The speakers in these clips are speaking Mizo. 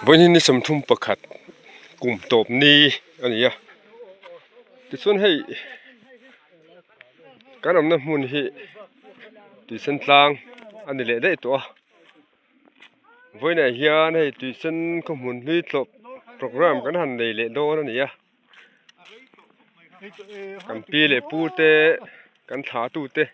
Bawiin nisa thum pakhat kum tawp ni a ni a tichuan hei kan awmna hmun hi tui sen tlang a ni leh daih tawh a vawiin ah hian hei tui sen khawmun hlui tlawp programme kan han nei leh dawn a ni a kan pi leh pu te kan thla tu te--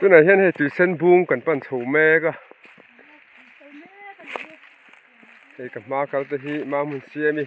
tunah hian hei tuisan bung kan pan chho mek a hei ka hma kal te hi mah hmun siam i.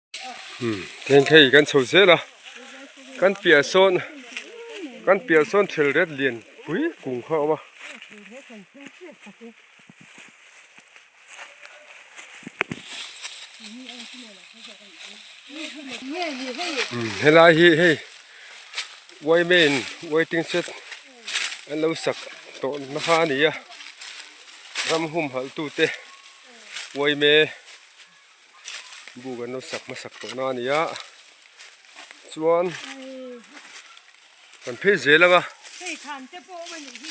Heng hei kan chho zel a kan piahah sawn kan piahah sawn thil ret lian pui kung kha a awm a helai hi hei yma in waiting shed an lo sak tawh na kha a ni a ram hum halh tute yma buk an lo sak hmasak tawh na a ni a chuan kan phei zel ang a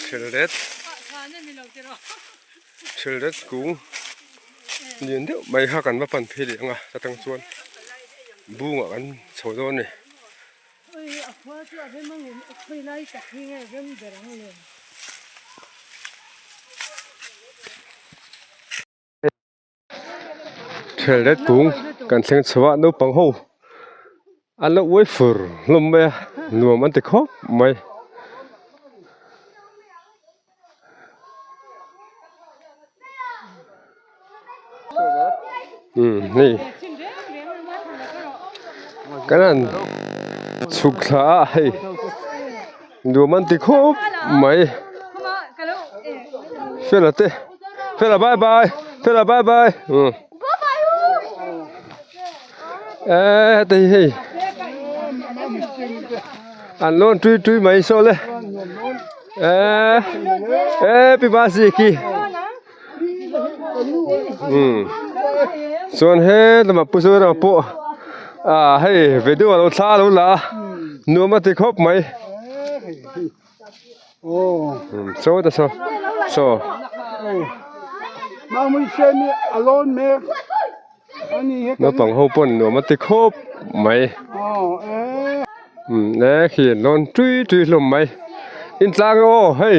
hrel ret hrel ret kung lian deuh mai kha kan va pan phei leh ang a hetang chuan bung ah kan chho dawn a ni. Khelhdet kung kan thleng chho a naupang ho an lo uai fur hlawm mai a nuam an ti khawp mai. duh man ti khawp mai fela te fela bye bye fela bye bye umm eeii heti hi hei an lawn tui tui mai saw le eeii happy birthday ki. chuan he hlama pu chu erawh pawh ah hei video lo thla alo la a nuam a ti khawp mai saw ta saw saw naupang ho pawh an nuam a ti khawp mai eekhie an nawn tui tui hlawm mai intlang emaw hei.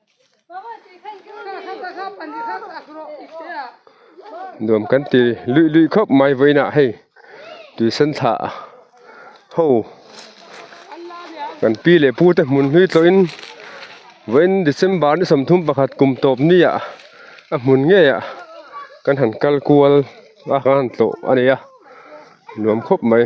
nuam kan ti luih luih khawp mai vawiinah hei tuisan thlah ho kan pi leh pu te hmun hi tawhin vawiin december ni sawmthum pakhat kum tawp ni ah a hmun ngei ah kan han kal kual a kan han tlawh a ni a nuam khawp mai.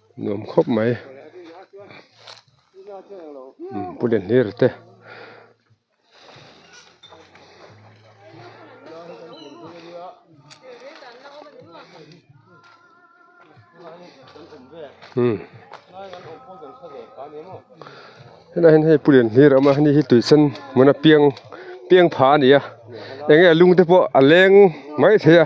nuam khawp mai pu le hlir te helai hei pu len hlir awm a hei hi tuisan hmun a piang piangpha a ni a eng nge a lungte pawh a leng mai thei a.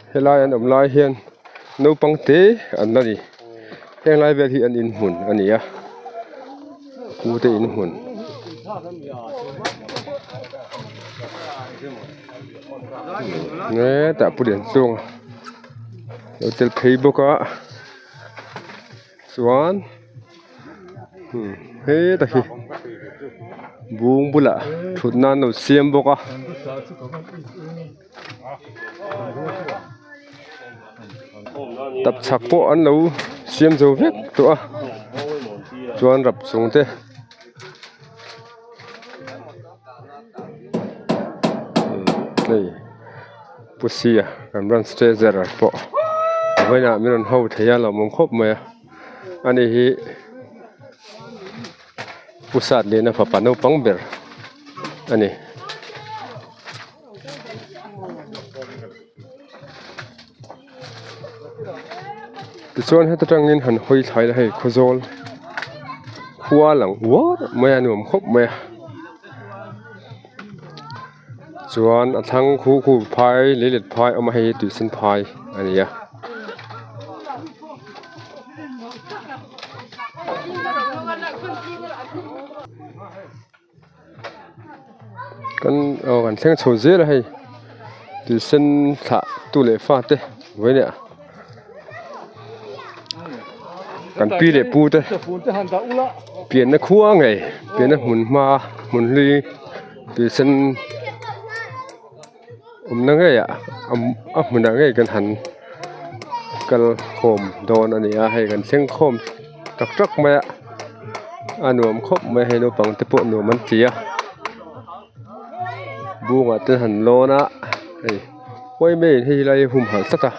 Helai an awm lai hian naupang te an la ni heng lai vel hi an in hmun a ni a pu te in hmun ee tah pu leh chuang lo tel phei bawk a chuan hmm he ta hi bung bulah thut nan lo siam bawk a. tap chak pawh an lo siam zo vek tawh a chuan rap chung te hei pusia ramram stretcher pawh a vawiinah min rawn ho thei a a lo awm khawp mai a a ni hi pu sat lehna fapa naupang ber a ni. tichuan heta tangin han hawi thlai na hei khawzawl khua a lang uar mai a a nuam khawp mai a chuan a thlang khu khu phai leh let phai awm a hei hi tui sen phai a ni a. kan aw kan thleng chho zel a hei tui sen thlah tu leh fa te uai leh a kan pi leh pu te pianna khua ngei pianna hmun hma a hmun hi tui sen-- awmna ngeiah a hmunah ngei kan han kal khawm dawn a ni a hei kan thleng khawm tak tak mai a a nuam khawp mai hei naupang te pawh nuam an ti a bungah te han lawn a hei khawi mai in hei lai hi humhalh tak a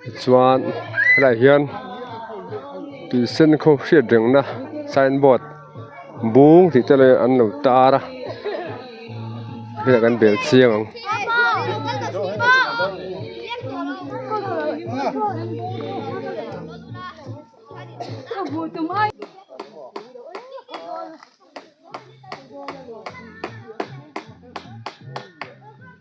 tichuan helaiah hian tuisenkhaw hriat reng na sign board -- bung tih te leh an lo tar a heliah kan bel chiang ang.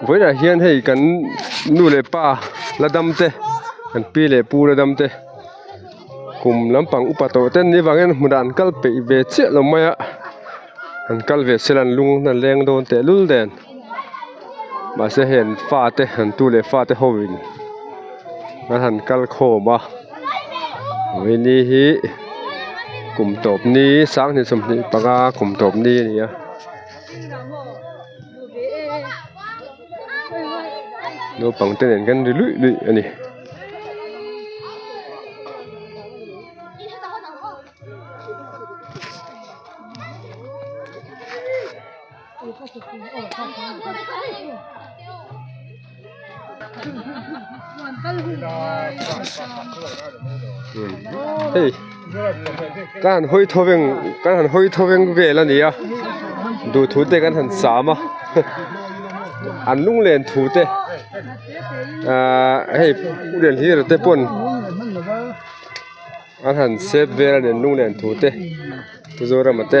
vawilah hian hei kan nu leh pa la dam te kan pi leh pu la dam te kum lampang upa tawh te an nih avangin hmu dah an kal peih ve chiah loh mai a an kal ve sel an lung an leng dawn tehlul dawn. mahse heng fa te han tu leh fa te ho in an han kal khawm a mai ni hi kum tawp ni sang hnih sawmhnih panga kum tawp ni a ni a naupang te nen kan ri luih luih a ni. hei kan han hawi thaw veng kan han hawi thaw veng vel a nia duhthûn te kan han sâm a an lung lên thu te aaa hei pu delhi rate pawn-- A han sep vel a nen hnung nen thu te Mizoram-a te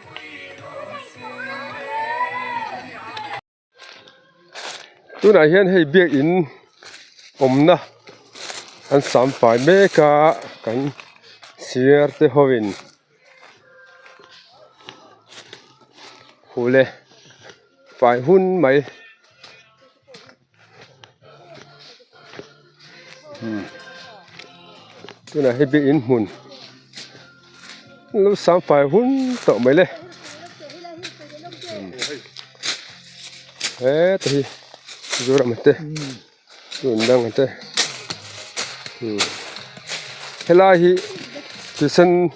tunah hian hei biakin awmna an sam fai mek a kan sir te ho in khuh leh fai hun mai. tunah hi biain hmun lo sam fai hun tawh mai le heta hi mizoram te chu an dang te helai hi tuition --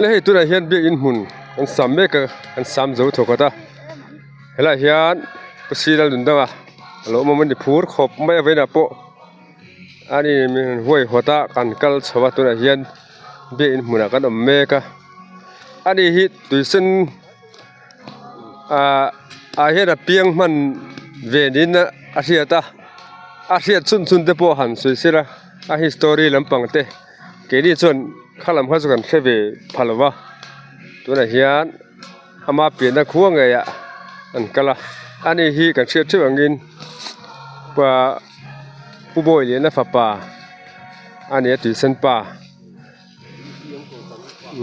la hei tunah hian biakin hmun an sam mek a an sam zo thaw khat a helaiah hian khawsira rawn lang a a lo awm awm a ni phur khawp mai a vain ah pawh a ni hmel in huai huat a kan kal chho a tunah hian biakin hmun ah kan awm mek a a ni hi tui sen ah ah hian a piang hman ve niin a hriat a a hriat chhun chhun te pawh han sawi sila a history lampang te. Keini chuan kha lam kha chu kan hre ve pha lova tunah hian ama piahna khua ngeiah an kal a ani hi kan hriat theuh angin pa pu bawi lehna fapa a nia tuisan pa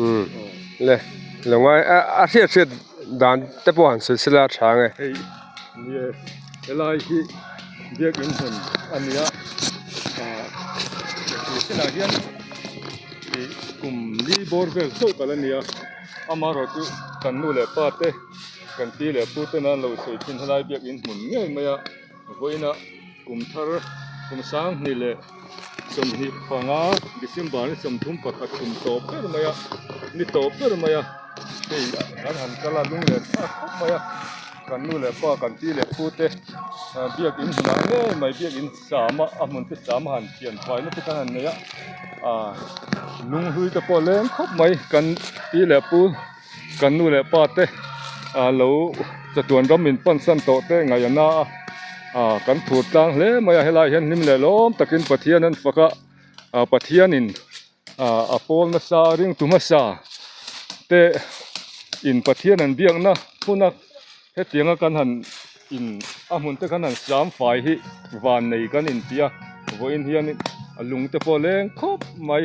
umm le lawngai a hriat hriat dan te pawh han sawi sela a tha ang e. helai hi biakin hmun a ni a ahh he sinah hian ihh kum ni bawr vel chauh tak a ni a amaherawhchu chu kan nu leh pa te kan pi leh pu te nan lo sawi thin helai biakin hmun ngei mai a vawiin a kum thar kum sang hnih leh-- Sawmhnih panga December ni sawmthum pakhat kum tawp ber mai a, ni tawp ber mai a, hei kan han kal a, lung len tha khawp mai a, kan nu leh pa, kan pi leh pu te biakin hnah ngei mai biakin sam a, a hmun te sam a han thian fai nasa khan han nei a, lunghlui te pawh leng khawp mai kan pi leh pu, Kan nu leh pa te ah lo chatuan ram in pan san tawh te ngaih a na a ah kan phur tlang hle mai a helai hian hlim leh lawm takin Pathian an faka ah Pathian in ah a pawl na sa ringtu hmasa te in Pathian an biak na hmuna Hetianga kan han in a hmun te khan han siam fai hi van nei kan in ti a, vawiin hian in a lung te pawh leng khawp mai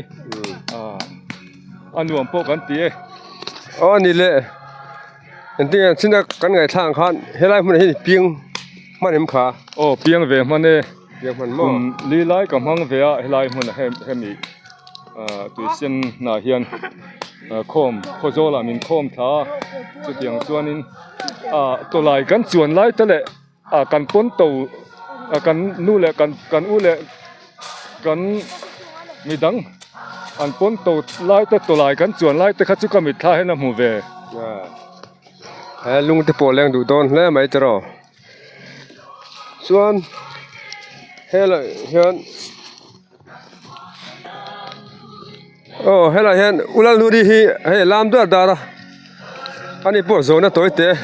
a nuam pawh kan ti e. Aw ani le, engtin ang chin a kan ngaithla ang khan helai hmunah hian i piang hman em kha? Aw piang ve hman e. Kum li lai ka hmang ve a, helai hmun ah hian hemi tuisin hnah hian khawm khaw zawl ah min khawm thla a, chutiang chuanin tawlai kan chuan lai ta leh kan pawn to kan nu leh kan u leh kan midang an pawn to lai te tawlai kan chuan lai te kha chu ka mitthla ah hian a hmu ve, he lungte pawh leng duh dawn hle mai tiraw. chuan helaiah hian aw helaiah hian u lalnute hi hei a lam duai dar a a ni pawh zawhna tawi teh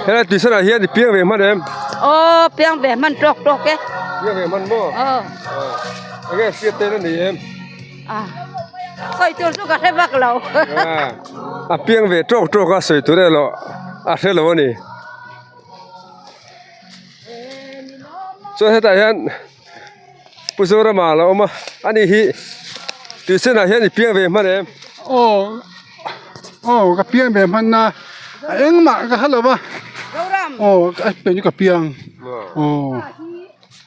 helai tuisan ah hian i piang ve hman em aw piang ve hman tawk tawk e piang ve hman maw aw enge hriat te na ni em. Sawi tur chu ka hre vak lo. A piang ve tawk tawk a sawi tur erawh a hre lo a ni. Chuan hetah hian Pu Zorama a lo awm a, a ni hi tui chenah hian i piang ve hman em? Aw aw ka piang ve hman a, a engmah ka hre lo va. Aw ka piang chu ka piang aw.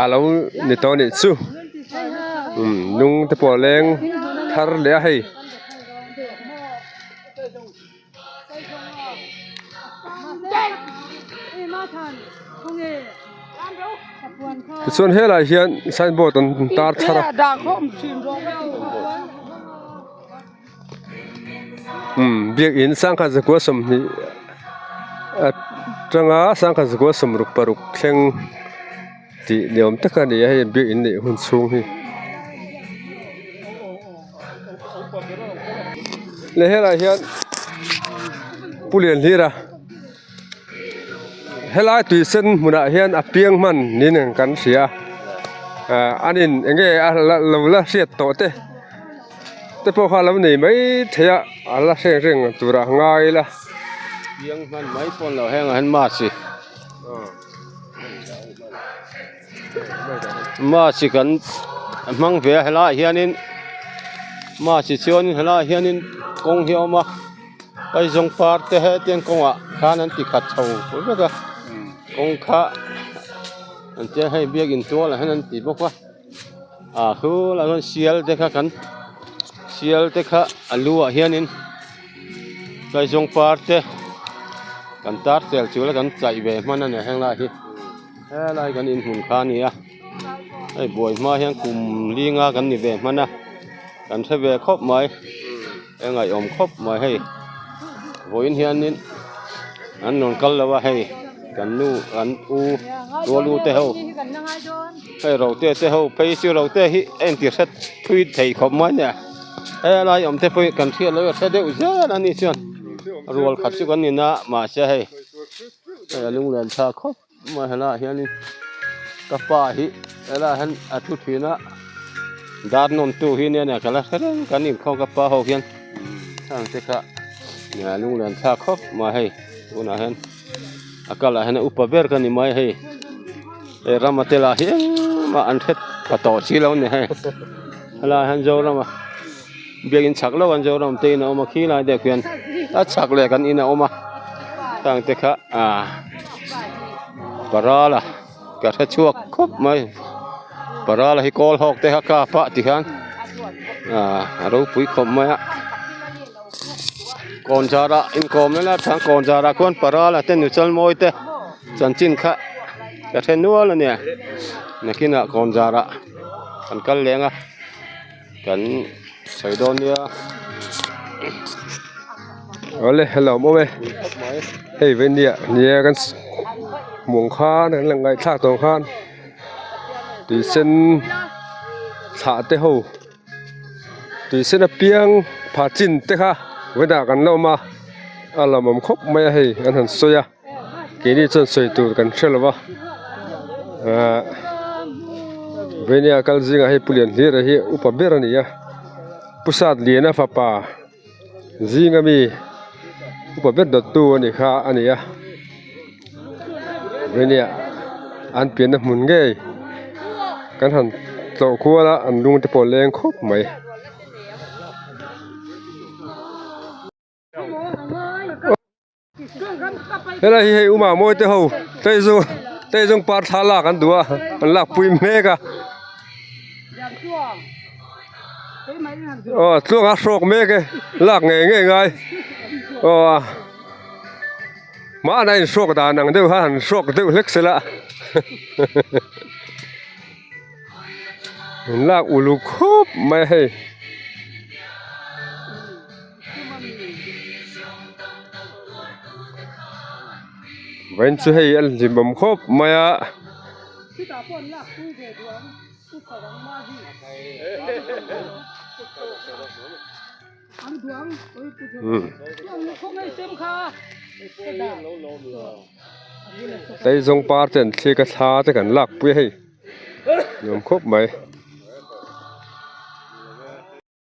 a lo ni tawh a nih chu umm nung te pawh a leng thar leh a hei. Tichuan helai hian sign board an tar thar a. biakin sangkhat zakua sawmhnih a changa sangkhat zakua sawmruk paruk thleng tih ni awm tak a ni a hei biakin neih hun chhung hi le helaiah hian pu lian hlir a. Helai tui sen hmunah hian a piang hman niin ang kan hria a, ah an in eng nge a lo la hriat tawh te te pawh kha a lo nei mai thei a, a la hreng hreng turah ngai ila piang hman mai pawh an lo hang ang hian mahse. March kan hmang ve a helaiah hianin March chuan in helaiah hianin kawng hi a awm a Aizawl par te hetian kawngah khan an ti khat chho fur vek a kawng kha an tia hei biak in tual ah hian an ti bawk a a hu lah hian Sial te kha kan Sial te kha a lu ah hianin Kaizawl par te kan tar tel chu la kan chai ve hman a ni a heng lai hi. Helai kan in hmun kha nia hei buai hma hian kum linga kan ni ve hmana kan hre ve khawp mai e ngaiawm khawp mai hei vawiin hianin an rawn kal lo a hei kan nu kan u tualu te ho hei rote te ho phei chu rote hi a inti hre thui thei khawp mai nia helai awmte pawhin kan hriat loh hi a hre deuh zela ni chuan rual khat chu kan ni na mahse hei. Hei a lung lian tha khawp mai hela ah hian in ka pa hi hela ah hian a thu thin a dar nawm tu hi nen a kala thleng kan in khaw ka pa ho hian chang te kha a lung lian tha khawp mai hei tunah hian a kal ah hian a upa ber ka ni mai hei e rama te lah hian engmah an hre tha tawh si lo ni hei hela ah hian zoram a Biakin chak lo an Zoram te in a awm a khi lai deuh khian a chak leh kan in a awm a tang te kha ah parala ka hre chhuak khawp mai parala hi kawl hawk te kha kap a ti khan ah a ro pui khawp mai a kawn zara inkawm na na than kawn zara khawn parala te nu chal mawi te chanchin kha ka hre nual a nia nakin ah kawn zara kan kal leng a kan sawi dawn nia awle a lawm awm e hei vaindia nia kan hmuh ang khan kan la ngaihthlak tawh ang khan tui sen thlah te ho tui sen apiang phah chin te kha vaida kan la awm a a lawmawm khawp mai a hei an han sawi a. keini chuan sawi tur kan hre lova ahh vawnia kal zingah hei pu lian hlir a hi a upa ber a ni a pu satliana fapa zinga mi upa ber dawt tu a ni kha a ni a vawnia an pianna hmun ngei kan han tlawh kual a an lungte pawh leng khawp mai. helai hi hei uma mawite ho tei zawng tei zawng par thla lak an duh a an lak pui mek a aw chuang a hrawk mek e lak ngei ngei ngai aw mahna in hrawk dan ang deuh han hrawk deuh hlek se la an lak uluk khawp mai a hei. Veng chu hei an hlibawm khawp mai a. Aizawl par ten thlik a thla te kan lakpui a hei nuam khawp mai.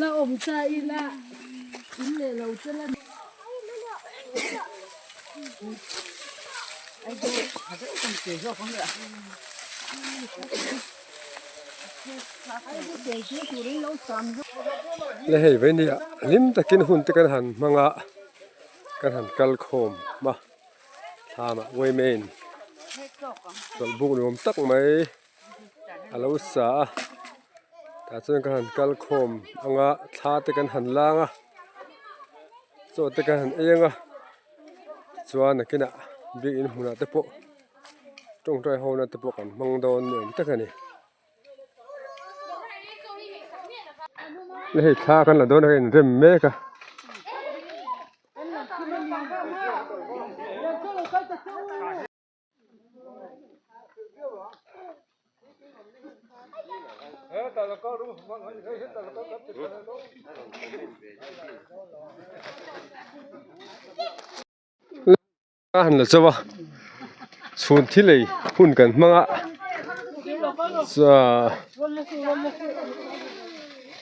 La awm ta ila in leh lo che la ni. La hei ve nia hlim takin hun te kan han hmang a kan han kal khawm hma thla mah wei maiin chawlhbuk nuam tak mai. a lo sa a tah chuan ka han kal khawm ang a thla te kan han lâng a chaw te kan han êng a chuan a kinah biak in hmunah te pawh ṭawng ṭai ho na te pawh kan hmang dâwn ni âwm tak a ni hei thla kan la dawn a in rem mek a. Ka han la chauh a chhun thil ei hun kan hmang a chuan--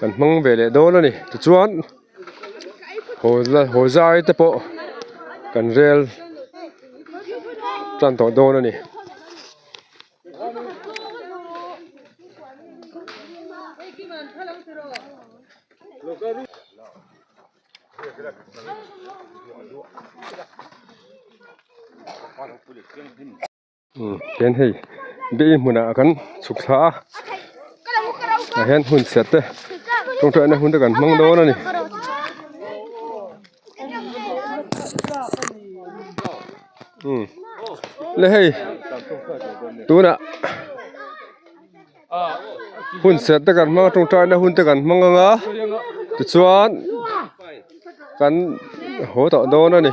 kan hmang ve leh dawn a ni tichuan haw zia haw zai te pawh kan rel tan tawh dawn a ni. Eng hei biain hmunah kan chhuk thla a tah hian hun chhiat te rawng hrehna hun te kan hmang dawn a ni. Le hei tunah hun chhiat te kan hmang a tawngtai na hun te kan hmang ang a tichuan kan haw tawh dawn a ni.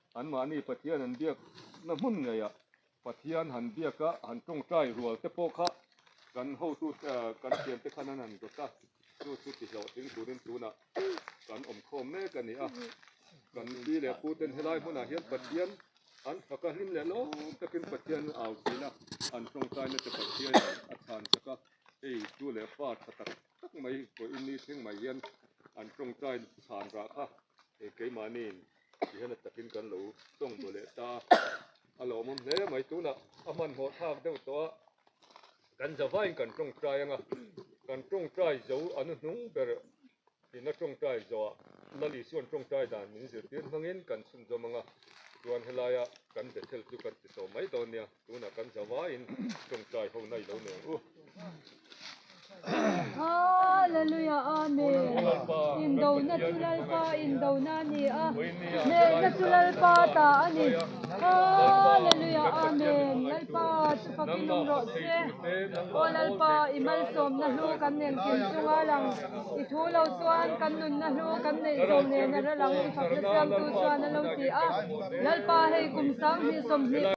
Anmahni Pathian han biak na hmun ngeiah Pathian han biak a han tawngtai rual te pawh kha kan hotu kan fiante khan an han zawt a, chu chu tihlawh tling turin tunah kan awmkhawm mek a ni a. Kan pi leh pu ten helai hmunah hian Pathian an phak a, hlim leh lawm takin Pathian au thina an tawngtai nate Pathian a chhan chak a, hei tu leh pa tha tak tak mai pawhin ni thleng mai hian an tawngtai chhan rah kha keimahniin, ti hian a takin kan lo tawngbaw leh ta a, a lawmawm hle mai tunah a hmanhmawh thlak deuh tawh a, kan za vaiin kan tawngtai ang a, kan tawngtai zo a nu hnung ber in a tawngtai zoah Lali chuan tawngtai dan min zirtir hmangin kan chhunzawm ang a, chuan helaia kan Bethel chu kan tisawm mai dawn nia. Tunah kan zavaiin tawngtai ho nai lo nen u. Hallelujah amen indo na chu lalpa indo na ni a ne na chu lalpa ta ani Hallelujah amen lalpa chu pakin nung ro se o lalpa i mal som na hlu kan nen kin chunga lang i thu lo chuan kan nun na hlu kan nei zo nen a ra lang i fak na siam tu chuan a lo ti a lalpa hei kum sang hnih sawm hnih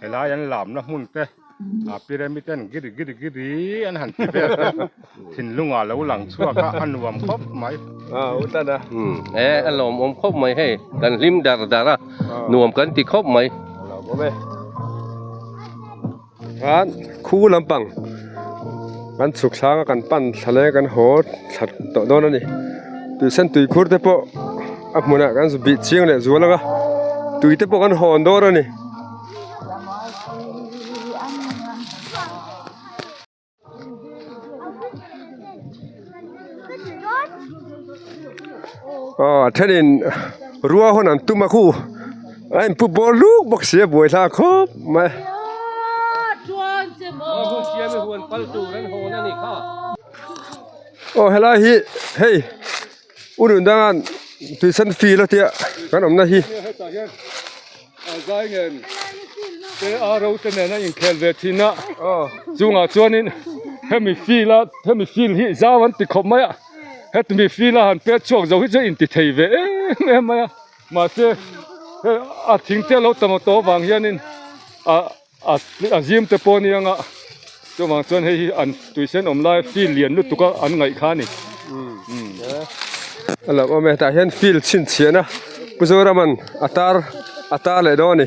Helai an lamna hmun te ah Pyramid-en giri giri giri an han ti vel te thinlunga lo lang chhuak a, a nuam khawp mai. He a lawmawm khawp mai hei, kan hlim dar dar a, nuam kan ti khawp mai. Chuan khu lampang kan chhuk thlanga kan pan thlale kan haw thla tawh dawn a ni, tuihsan tuikhur te pawh. a hmunah kan zu bih chiang leh zual ang a tui te pawh kan hawn dâwn a ni aw a ṭhenin rua hawn an tum a khu a in pu bawr lûk bawk si a buai hlâk khâwp mai aw helai hi hei. U Nui Dang a'n tuition fee la tia kan awmna hi hetah hian zai nen te a ro te nen a inkhel ve thin a chungah chuanin hemi fee la hemi fee hi zau an ti khawp mai a hemi fee la han pek chhuak zo hi chu a inti thei ve em em mai a mahse a thingte a lo tama tawh avang hianin ah-- a zim te pawh a ni ang a chuvang chuan hei hi an tuisan awm lai field lian lutuk a an ngaih kha a ni a lo awm e tah hian field chhinchhiah na pu zoraman a tar a tar leh dawn a ni.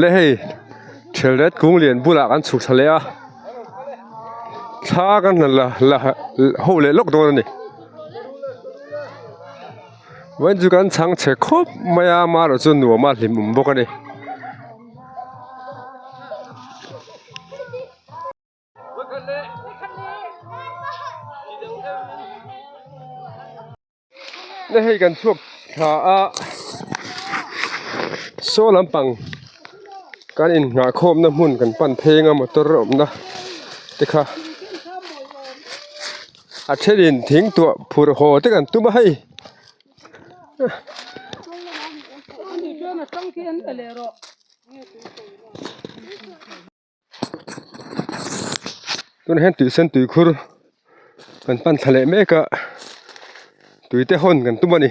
le hei ṭhel ret kung lian bulah kan chhukchhe leh a thla ka hna la la ho leh lawk dawn a ni vawiin chu kan chhang che khawp mai a mah erawh chu nuam a hlim awm bawk a ni. Nihei kan chhuak thla a saw lampang kan in nghah khawm na hmun kan pan pheng a motor awm na te kha a then in thing tuah phurh haw te kan tum a hei. tunah hian tuisan tui khur kan pan thla leh mek a tui te hawn kan tum a ni.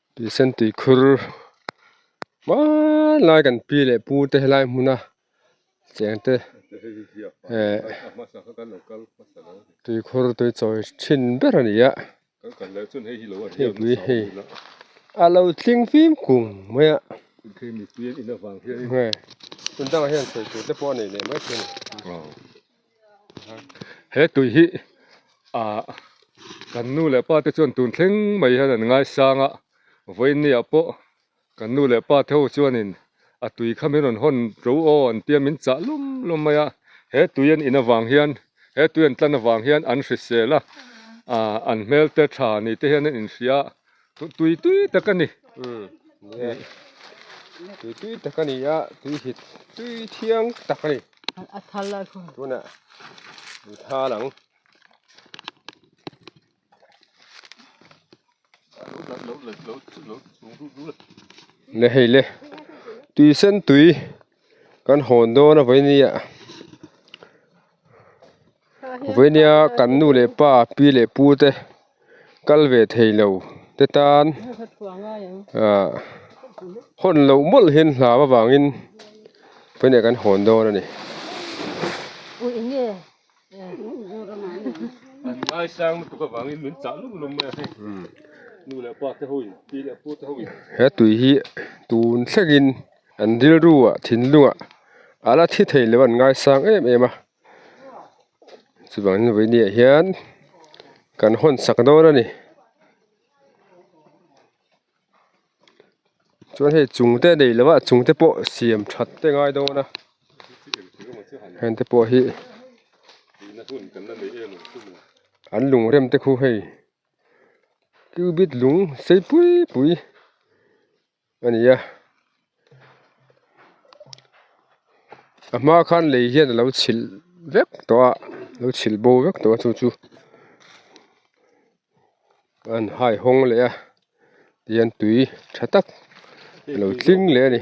Pilsen tui khur hmanlai kan pi leh pu te helai hmun a cheng te eh tui khur tui chawi thin ber a ni a hemi hei a lo tling fim kum mai a tunah hian sawi tur te pawh a nei leh mai thung. he tui hi ah kan nu leh pa te chuan tun thleng mai hian an ngai sang a vawinia pawh kan nu leh pa te ho chuanin a tui kha min rawn hawn tlo aw an tia min chah lawm lawm mai a he tui an in avang hian he tui an tlan avang hian an hrisel a ah an hmel te tha ni te hian an inhria. tui tui tak a ni tui tui tak a ni a tui hi tui thiang tak a ni tunah tui thal ang le hei le tui sen tui kan hawn dawn a vawih a ni ah. Vawinia kan nu leh pa, pi leh pu te kal ve thei lo te tan hawn loh mawlh hian hlau avangin vawinia kan hawn dawn a ni. He tui hi tun thlengin an rilru ah thinlung ah a la thi thei loh a, an ngaisang em em a. chuvang in vawiin neih ah hian kan hawn sak dawn a ni chuan hei chung te a nei loh a chung te pawh siam tha te ngai dawn a hente pawh hi an lung rem te khu hei kiu bet lung sei pui pui. a ni a a hma khan lei hian a lo chhilh vek tawh a lo chhilh bo vek tawh a chu chu an hai hawng leh a tihian tui tha tak a lo tling leh a ni.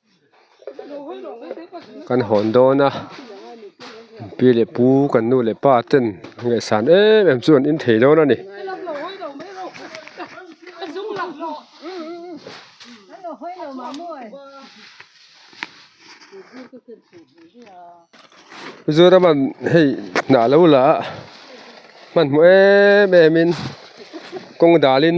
kan hawn dawn a pi leh pu kan nu leh pa ten an leh san em em chu an in thei dawn a ni. Mizoram an hei hnah lo la a hmanhmawh em em in kawng dalin.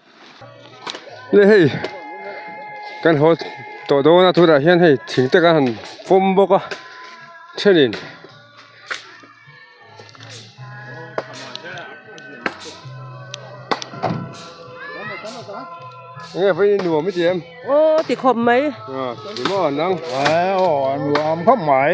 Nge hei kan haw tawh dawn a tunah hian hei thing te kan han pawm bawk a thenin nge vawn in nuam i tiam aw ti khawp mai ri maw an ang nuam khawp mai.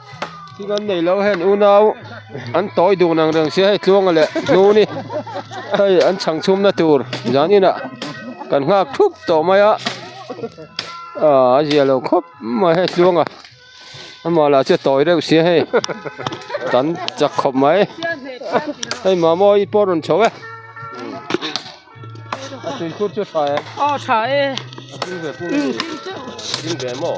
Thil an nei lo hian unau an tawi dun ang reng se hei tluanga leh hnuni hei an chhang chhum na tur zan inah kan nghak thup tawh mai a aa a ziah lo khawp mai hei tluanga amah lah chu tawi reuh se hei kan chak khawp mai hei mamawh i pawh a rawn chho e a tui khur chu a tha e a tha e a tling ve pung a ni a tling ve maw.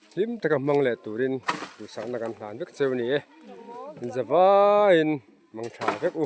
Hlim taka hmang leh turin duhsakna kan hlan vek che a ni e. Zawaiin hmang tha vek u.